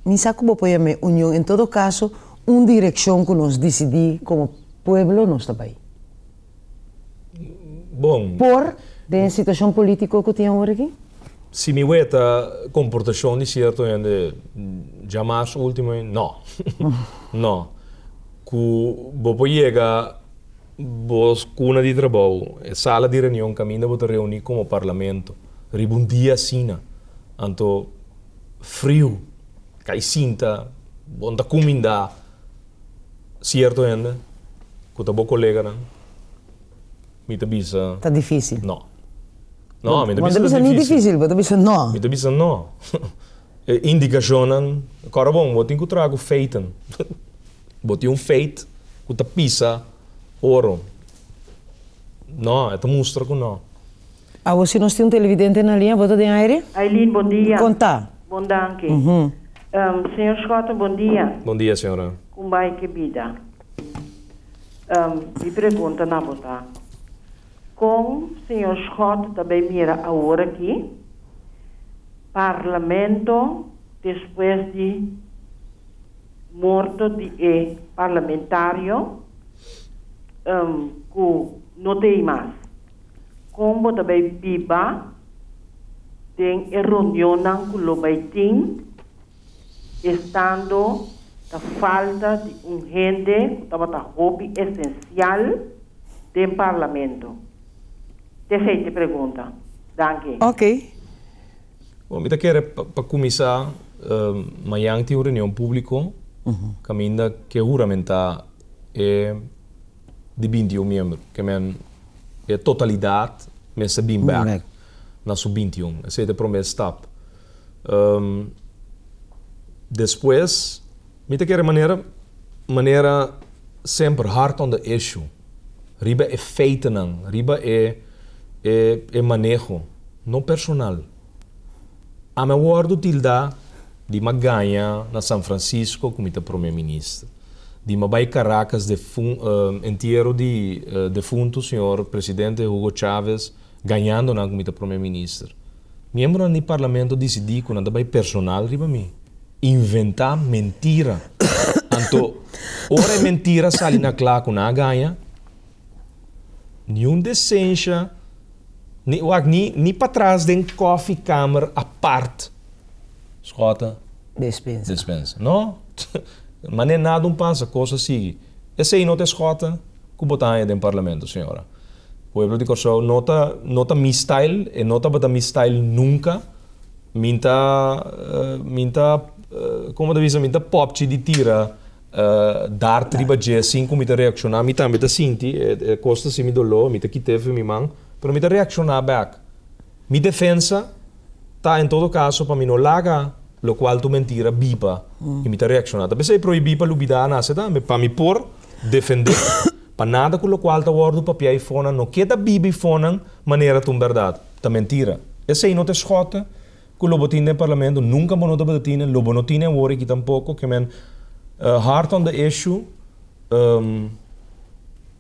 mi sa ku bo poi amé union, en todo kaso un direkshon ku nos disidí komo pueblo nos ta bai. bon. Por den situacion politico cu tin awor aki? Si mi weta comportacion di cierto hende dja mas ultimo ei, no. No. Cu bo por yega bo cuna di trabou, e sala di reunion caminda bo ta reuni como Parlamento riba un dia asina, anto friu, cai sinta, bo no ta cuminda. Cierto hende cu ta bo coleganan mi ta bisa. Ta dificil. No. No, mi ta bisa ta dificil. Bo no ta bisa ni dificil, bo ta bisa no. Mi ta bisa no. E indicacionnan, cora bon, bo tin cu traha cu feiten. Bo tin un feit cu ta pisa oro. No, e ta mustra cu no. Awo si nos tin un televidente na liña, bo ta den aire? Eileen, bon dia. Con ta? Bon danki. Señor Schotten, bon dia. Bon dia, señora. Con bai cu e bida? Mi pregunta na bo ta, Con señor Schott ta bay mira aworaki Parlamento despues di morto di e parlamentario cu no ta ey mas? Kon bo ta bai biba den e reunionnan ku lo bai tin, estando ta falta di un hende ku tabata hopi esensial den Parlamento? Tefei te pregunta. Danki. Oke. Bo mi ta kere pa kuminsá, mañan tin un reunion públiko kaminda ke huramentá e. di binti i un miembro, ke men e totalidat mester bin bek na su binti i un. Esei ta e promé stap. Despues mi ta kere manera manera semper hard on the issue, riba e feitenan, riba e maneho, no personal. Ami a wòrdu tildá di mi a gaña na San Francisco ku mi ta promé minister, di mi a bai Caracas entiero di defuntu señor presidente Hugo Chávez gañando nan ku mi ta promé minister. Miembronan di parlamento disidí ku nan ta bai personal riba mi. Inventá mentira. Anto ora e mentira sali na kla ku nan a gaña, niun desensha. Ni wak ni, ni patras den kofi kamer apart. Skota. Despensa. Despensa. No. Mane nada un pasa, kosa sigui. Esei no ta e skota ku bo ta haña den parlamento, señora. Pueblo di Kòrsou no ta, no ta mi style, e no tabata mi style nunka. Min ta, min ta, komo ta bisa, min ta popchi di tira. Dart riba dje sin ku mi ta reakshoná. Mi tambe ta sinti e kosnan sin mi doló. Mi ta kit'é fen mi man. Pero mi ta reakshoná bèk. Mi defensa ta en todo kaso pa mi no laga lo ku altu mentira biba i mi ta reakshoná. Ta p'esei prohibí pa Lubidá a nase tambe, pa mi por defendé pa nada ku lokual ta wòrdu papiá i fónan no keda biba i fónan manera ta un bèrdat, ta mentira. Esei no ta e schòt. Cu lo bo tin den Parlamento nunca bo no tabata tine, lo bo no tine awor aki tampoco, que men hard on the issue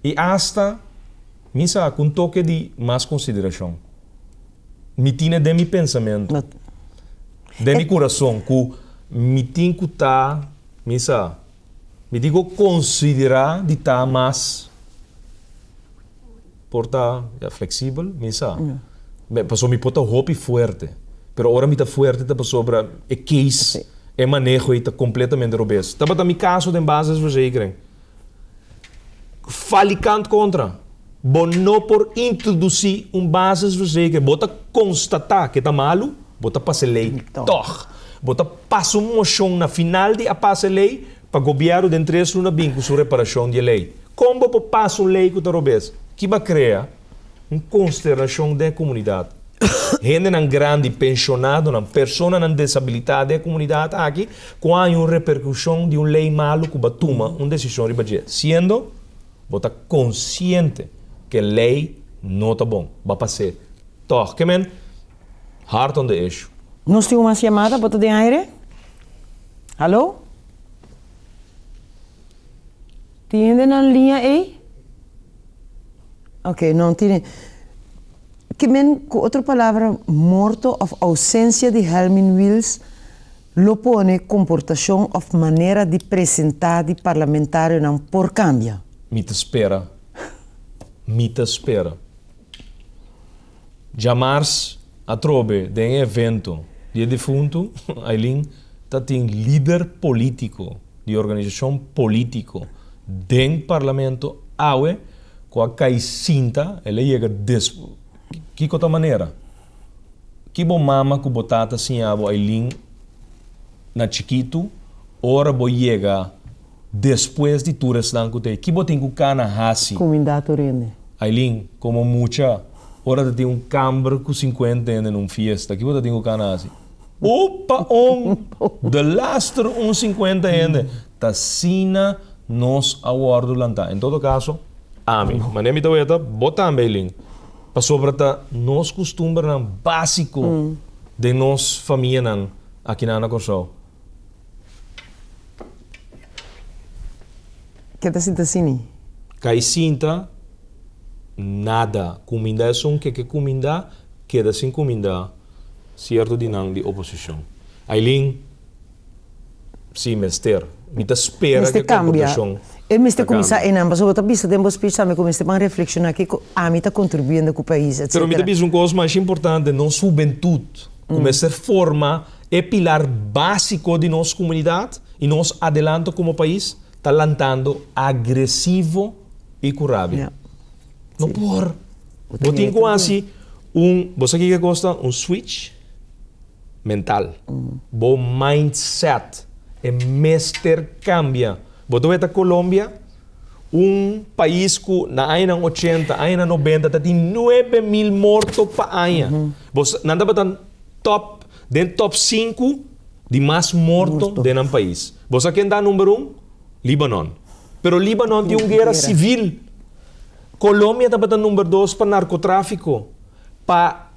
y hasta mi sa cu un toke di mas consideracion mi tine den mi pensamento, den mi curazon cu mi tin cu ta mi sa. Mi dico considera di ta mas por ta flexibel? Mi sa. Pasobra mi por ta hopi fuerte. Pero ora mi ta fuerte ta pasobra e case, e maneho ei ta completamente robes. Tabata mi caso den base des verzekering. Falikant contra. Bo no por introduci un basisverzegel que bo ta constata que ta malu, bo ta pasa e ley tog. Bo ta pasa un mocion na final di a pasa e ley pa Gobierno den tres luna bin cu su reparacion di e ley. Con bo por pasa un ley cu ta robes? Ki ba crea un consternacion den e comunidad. Hendenan grandi, pensionadonan, personanan deshabilita den e comunidad aki cu a haña un repercusion di un ley malu cu ba tuma un decision riba dje, siendo Bo ta konsiente ku e lei no ta bon. Bo a pas'é tòg. Ke men hard on the issue. Nos tin un mas yamada. Bo ta den aire? Hallo? Tin hende na liña ei? Ok, no tin hende. Ke men, ku otro palabra, morto òf ousensia di Helmin Wiels Lo pone comportacion of manera di presenta di parlamentarionan por cambia? Mi ta spera, mi ta spera. Djamars atrobe den e evento di e difunto Aylin ta tin lider politico di organisacion politico den parlamento awe cu a cay sinta, el a yega despues. Kico ta manera? Ki bo mama ku bo tata siña bo Ailin na chikitu ora bo yega despues di tur esnan ku ta yega? Ki bo tin ku kana hasi? Kuminda tur hende. Ailin, Komo mucha, ora ta tin un kamber ku sinkuenta hende na un fiesta, ki bo ta tin ku kana hasi? Upa un! De laster un sinkuenta hende! Ta asina nos a wòrdu lantá. En todo kaso, ami, manera mi ta weta, bo tambe Ailin, Pasobra ta nos kustumbernan básiko den nos famianan aki na Ana Kòrsou. Ke ta sinta sini? Kai sinta nada. Kuminda esun ke ke kuminda, keda sin kuminda, sierto di nan di oposishon. Ailin, si mester. Mi ta spera Mester ke kambia. kongregacion E mester ta kuminsá kambia. einan. Pasobra bo ta bisa den bo speech tambe ku mester ban reflekshoná kiko ami ta kontribuiendo ku pais, etc. Pero mi ta bisa un kos masha importante, nos hubentut ku mester forma e pilar básiko di nos komunidat i nos adelanto komo pais ta lantando agresivo i ku rabia. Ya. No por. Bo tin ku hasi un, bo sa kiko e kos ta? Un switch. mental. Bo mindset e mester cambia. Bo ta wey ta Colombia, un pais cu na añanan ochenta, añanan nobenta ta tin nuebe mil morto pa aña. Bo sa, nan tabata top, den top sinku di mas morto den nan pais. Bo sa ken ta number un? Libanon. Pero Libanon tin un guera civil. Colombia tabata number dos pa narcotrafico, pa.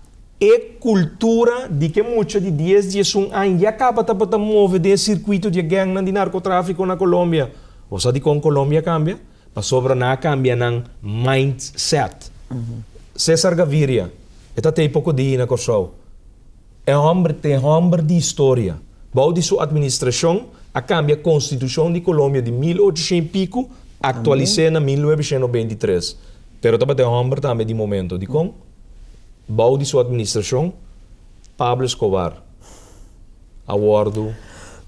E kultura di ke mucha di dies di esun aña ya kaba tabata move den e sirkuito di e gèngnan di narkotráfiko na Kolombia. Bo sa dikon Kolombia kambia? Pasobra nan a kambia nan mindset. César Gaviria, e ta tei poko di na Kòrsou, e hòmber te hòmber di historia. Bou di su atministrashon a kambia konstitushon di Kolombia di mil ochoshen i piku, aktualis'é na mil novecientos beinti tres. Pero tabata e hòmber tambe di momento. Dikon? Bou di su administrashon, Pablo Escobar a wòrdu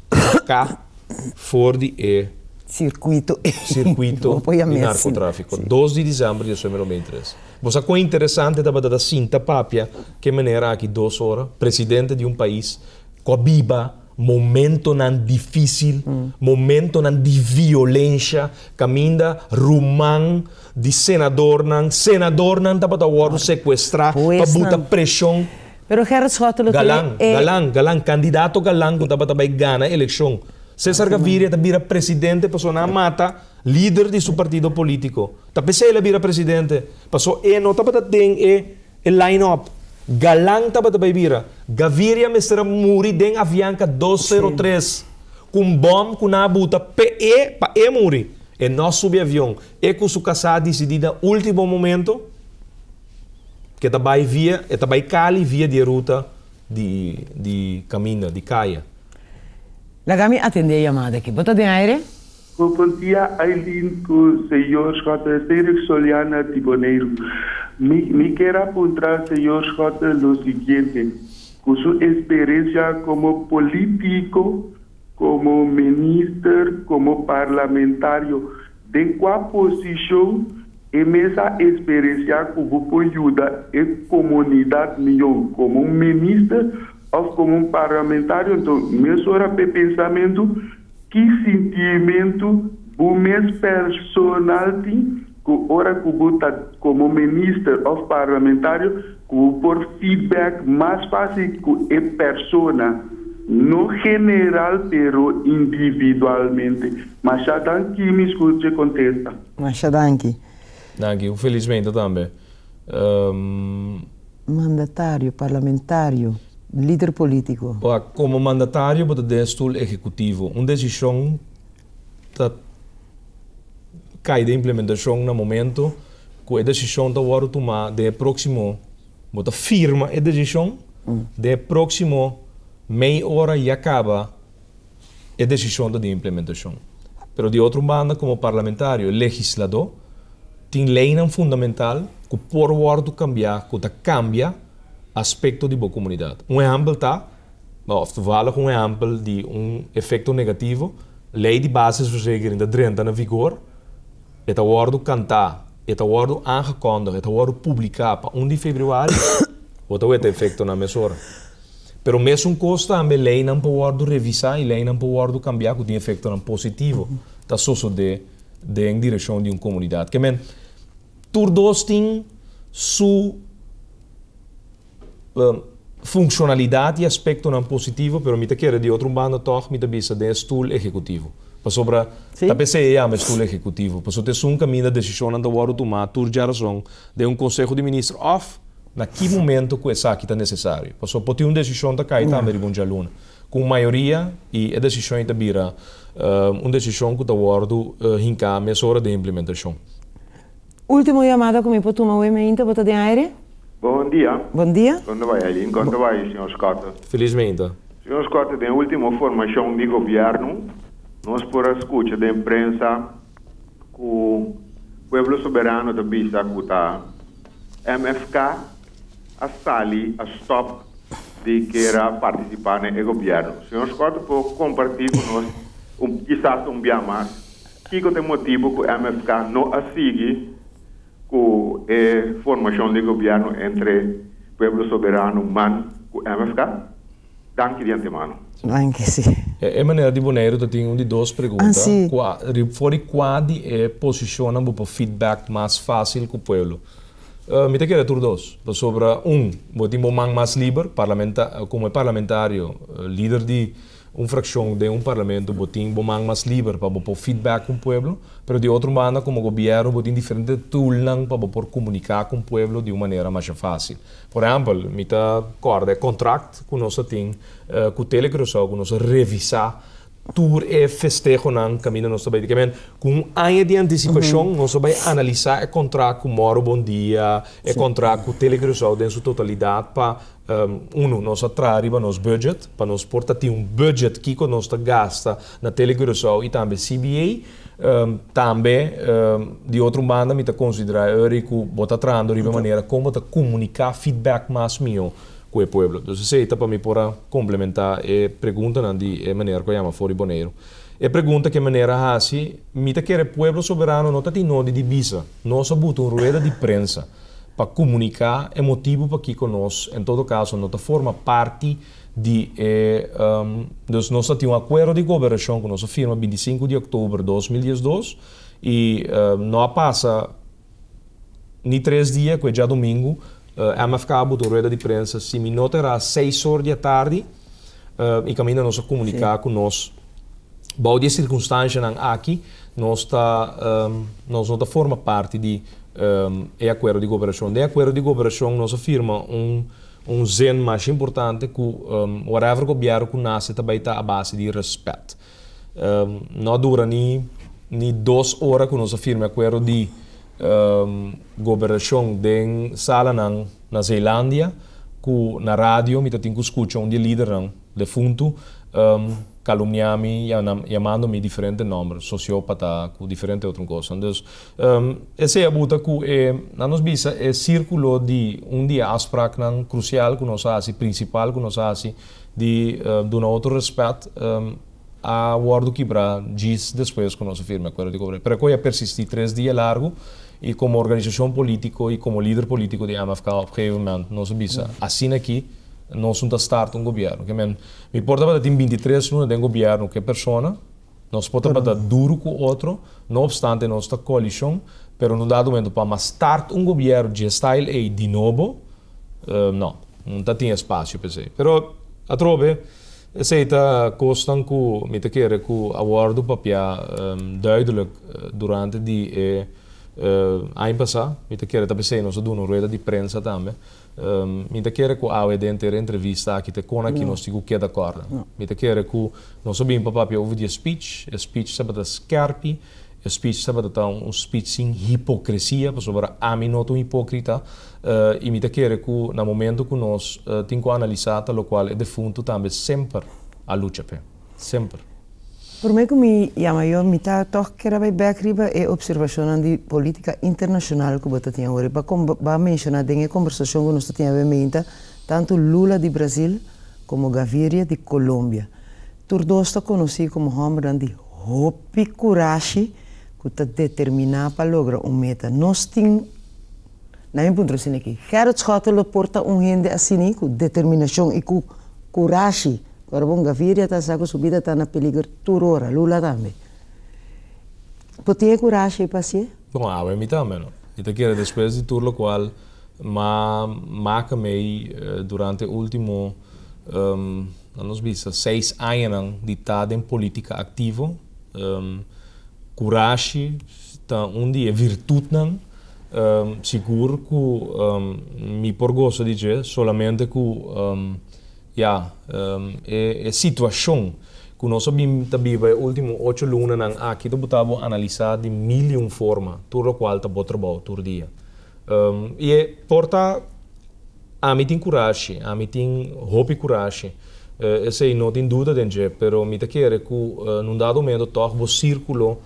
saka for di e sirkuito di narkotráfiko dos di desèmber di esumero mei tres. Bo sa kon interesante tabata ta sinta papia ke manera aki dos ora presidente di un pais ku a biba. Momentonan difísil, momentonan di violensha kaminda ruman di senadornan, senadornan tabata wòrdu sekuestrá pa buta preshon. Galan, galan, galan, kandidato galan ku tabata bai gana elekshon. Cesar Gaviria ta bira presidente pasobra nan a mata lider di su partido polítiko. Ta p'esei el a bira presidente, paso e no tabata den e E line-up, Galan tabata bai bira, Gaviria mester a muri den Avianca dos sero tres cu un bom cu nan a buta p'e pa e muri. E no subi avion. E cu su casá a dicidi na ultimo momento cu e ta bai via, e ta bai Cali via di e ruta di di caminda, di caya. Laga mi atende e yamada aki. Bo ta den aire? Bo por tia Aileen cu Señor Schotten Cedric Soliana di Boneiru. Mi mi ker a puntra Señor Schotten lo siguiente, cu su experiencia como politico, como minister, como parlamentario, den cua posicion e mes a experiencia cu bo por yuda e comunidad miyo como un minister of como un parlamentario? Enton, mesora p'e pensamentu. Ki sintimentu bo mes personal tin ku ora ku bo ta komo minister òf parlamentario ku bo por feedback mas fásil ku e persona, no general pero individualmente? Masha danki mi scuche contesta. Masha danki. Danki, un felismente tambe. Mandatario, parlamentario, lider politico. Ora, como mandatario bo ta den stoel ehecutivo. Un decision ta cay den implementacion na momento cu e decision ta wordo tuma den e proximo, bo ta firma e decision, den e proximo mei ora ya caba e decision ta di implementacion. Pero di otro banda como parlamentario, legislador, tin leynan fundamental cu por wordo cambia cu ta cambia aspecto di bo comunidad. Un ehempel ta, of toevallig un ehempel di un efecto negativo, ley di basisverzekering ta drenta na vigor, e ta wordo canta, e ta wordo aangekondig, e ta wordo publica pa un di februari, bo ta weta efectonan mesora. Pero mesun kos tambe leinan por wòrdu revisá i leinan por wòrdu kambiá ku tin efektonan positivo ta sosodé den direkshon di un komunidat. Ke men, tur dos tin su funshonalidat i aspektonan positivo, pero mi ta kere di otro banda tòg mi ta bisa den e stul ehekutivo. Pasobra ta p'esei e yama e stul ehekutivo, pasobra ta esun kaminda desishonnan ta wòrdu tumá tur djarazon den un konseho di minister òf Na ki momento ku esaki ta nesesario? Pasobra por tin un desishon ta kai tambe riba un djaluna ku un mayoria i e desishon ei ta bira un desishon ku ta wòrdu hinká mesora den implimentashon. Último yamada ku mi por tuma awe meinta. Bo ta den aire? Bon dia. Bon dia. Kònde bai Eileen? Kònde bai señor Scott? Feliz meinta. Señor Scott, den e último formashon di gobièrnu nos por a skucha den prensa ku Pueblo Soberano ta bisa ku ta. MFK a sali a stop di kera participa na e gobierno. Señor Scott ta por comparti cu nos un kisas un bia mas kico ta e motibo cu MFK no a sigui cu e formacion di gobierno entre Pueblo Soberano, man, cu MFK? Danki di antemano. Danki, si. E manera di Boneiru ta tin un di dos pregunta, kua, ri, for di kua di e posishonnan bo por feedback mas fásil ku pueblo? Mi ta kere tur dos, pasobra un, bo tin bo man mas liber, parlamenta, komo e parlamentario, lider di un frakshon den un parlamento, bo tin bo man mas liber pa bo por feedback ku pueblo, pero di otro banda komo gobièrnu bo tin diferente tulnan pa bo por komuniká ku pueblo di un manera masha fásil. Por ehempel, mi ta corda e contract cu nos a tin cu Tele Curacao cu nos a revisa tur e festehonan caminda nos ta bay di caminda. Cu un aña di anticipacion nos a bay analisa e contract cu Morro Bondia, e contract cu Tele Curacao den su totalidad pa, uno, nos a traha riba nos budget, pa nos por ta tin un budget kico nos ta gasta na Tele Curacao y tambe CBA. Tambe di otro banda mi ta considera Eury cu bo ta trahando riba e manera con bo ta comunica feedback mas mihó cu e pueblo. Dus esey ta pa mi por a complementa e preguntanan di e meneer cu a yama for di Boneiru. E pregunta cu e meneer a haci, mi ta kere pueblo soberano no ta tin nodi di bisa nos a buta un rueda di prensa pa comunica e motibu pakico nos en todo caso no ta forma parti di e Dus nos a tin un akuerdo di koberashon ku nos a firma binti sinku di oktober dos mil dies dos i no a pasa ni tres dia ku e djadumingu MFK a buta un rueda di prensa si mi no ta era seis or di atardi i kaminda nos a komuniká ku nos bou di e sirkunstanshanan aki nos ta nos no ta forma parti di e akuerdo di koberashon. Den e akuerdo di koberashon nos a firma un. Un zin masha importante cu whatever gobiero cu nace ta bay ta a base di respet. No a dura ni ni dos ora cu nos a firme acuerdo di goberacion den salanan na Zeelandia cu na radio mi ta tin cu scucha un di e lidernan defuntu calumnia mi, yamando mi diferente nomber, sociopata cu diferente otro cosa. Entonces Esei a buta ku e na nos bisa e sirkulo di un di e afspraknan krusial ku nos a hasi, prinsipal ku nos a hasi, di duna otro rèspèt, a wòrdu kibrá djis despues ku nos a firma e Akuerdo di Kobreiro. Pero e kos ya persistí tres dia largu i komo organisashon polítiko i komo lider polítiko di MFK op gegeven moment nos a bisa, Asina aki nosun ta starta un gobièrnu. Ke men, no importa tabata tin binti tres luna den gobièrnu ke persona, Nos por tabata duru ku otro, no opstante nos ta koalishon, pero no ta argumento pa mas tard un gobièrn dje style ei di nobo, no, no ta tin espasio pa esei. Pero atrobe, esei ta kosnan ku mi ta kere ku a wòrdu papia duidelik durante di e aña pasá. Mi ta kere ta pa esei nos a duna un rueda di prensa tambe Mi ta kere ku awe denter e entrevista aki te kona ki nos tin ku keda kòrda. Mi ta kere ku nos a bini pa papia over di e spich. E spich tabata skèrpi, e spich tabata ta un spich sin hipokresia, pasobra ami no ta un hipókrita. I mi ta kere ku na momentu ku nos tin ku analisá ta lokual e defuntu tambe semper a lucha p'e. semper. Prome ku mi yama yo mi ta tòg keda bai bèk riba e opservashonnan di politika internashonal ku bo ta tin awor. I pa kon ba menshoná den e kombersashon ku nos ta tin awe meinta tantu Lula di Brasil komo Gaviria di Kolombia. Tur dos ta konosí komo hòmbernan di hopi kurashi ku ta determiná pa logra un meta. Nos tin. Na mi puntra sin aki, Gerrit Schotten lo por ta un hende asini cu determinacion y cu curashi. Ora bon Gaviria ta sa cu su bida ta na peliger tur ora, Lula tambe. Bo tin e curashi pa haci'e? Bon, awe mi tambe no. Mi ta kere despues di tur locual m'a maca mei durante e ultimo, na nos bisa, seis añanan di ta den politica activo, curashi ta un di e virtutnan. Sigur ku mi por goso di dje, solamente ku ya, e situashon ku nos a bin ta biba e último ocho lunanan aki ta por ta bo analisá di mil i un forma, tur lokual ta bo trabou tur dia. I e por ta ami tin kurashi, ami tin hopi kurashi Esei no tin duda den dje, pero mi ta kere ku na un dado momento tòg bo sirkulo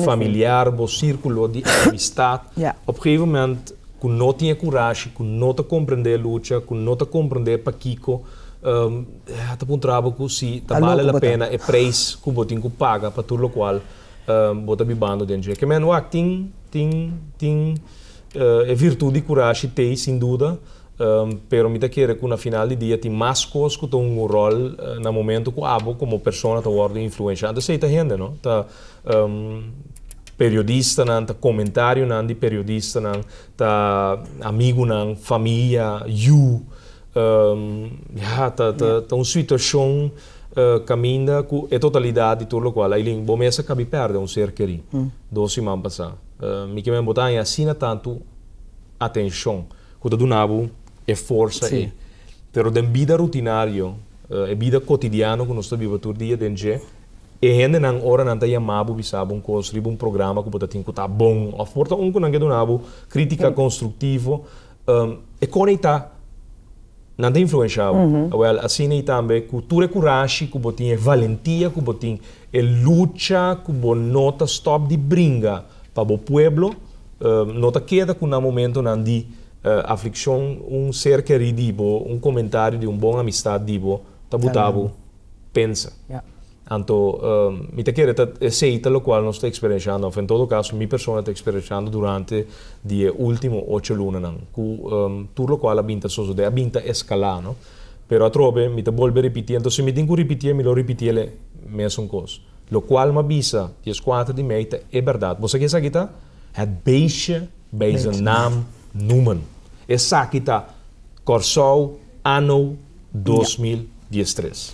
familiar, bo sirkulo di amistat, op e geven moment ku no tin e kurashi, ku no ta komprendé e lucha, ku no ta komprendé pakiko a ta puntra bo ku si ta bale la pena e preis ku bo tin ku paga pa tur lokual bo ta bibando den dje. Kemen wak tin tin tin. E virtud di curashi t'ey sin duda, pero mi ta kere cu na final di dia tin mas cos cu ta hunga un rol na momento cu abo como persona ta wordo influencia. Anto esey ta hende, no? Ta periodistanan, ta comentarionan di periodistanan, ta amigunan, famia, yu. Ya, ta, ta, ta un situacion caminda cu e totalidad di tur locual, Aylin, bo mester cabi perde un ser keri dos siman pasá. Mi kier men bo ta haña asina tantu atencion cu ta duna bo e forsa ey. Pero den bida rutinario, e bida cotidiano cu nos ta biba tur dia den dje, e hendenan ora nan ta yama bo bisa bo un cos riba un programa cu bo ta tin cu ta bon of por ta un cu nan ke duna bo critica constructivo, E kone i ta? Nan ta influensha bo? Awèl, asina i tambe ku tur e kurashi ku bo tin, e valentia ku bo tin, e lucha ku bo no ta stòp di bringa pa bo pueblo. No ta keda ku na momentunan di aflikshon un ser kerí di bo, un komentario di un bon amistat di bo ta buta bo pensa. Anto mi ta kere ta esei ta lokual nos ta eksperenshando, òf en todo kaso mi persona ta eksperenshando durante di e último ocho lunanan, ku tur lokual a bin ta sosodé, a bin ta eskalá, no. Pero atrobe mi ta bolbe ripitié. Anto si mi tin ku ripitié, mi lo ripitié el e mesun kos. Lokual m'a bisa di es kuater di mei ta e bèrdat. Bo sa ke esaki ta? Het beestje bij zijn naam noemen. Esaki ta Kòrsou. Ano dos mil dies tres.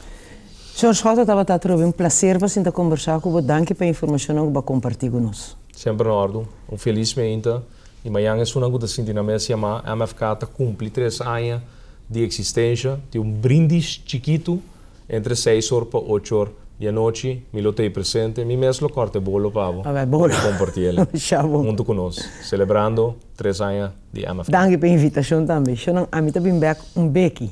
Sr. Schotten tabata atrobe un placer pa sinta combersa cu bo danki pa e informacionnan cu bo a comparti cu nos. Semper na ordon. Un feliz meinta y mañan esunnan cu ta sinti na mes yama MFK ta cumpli tres aña di existencia. Tin un brindis chikitu entre seis or pa ocho or di anochi. Mi lo ta ey presente. Mi mes lo corta e bolo pa bo pa bo comparti el hunto cu nos celebrando tres aña. di Emma. Danki pa invitacion tambe. Sho nan ami ta bin bek un beki.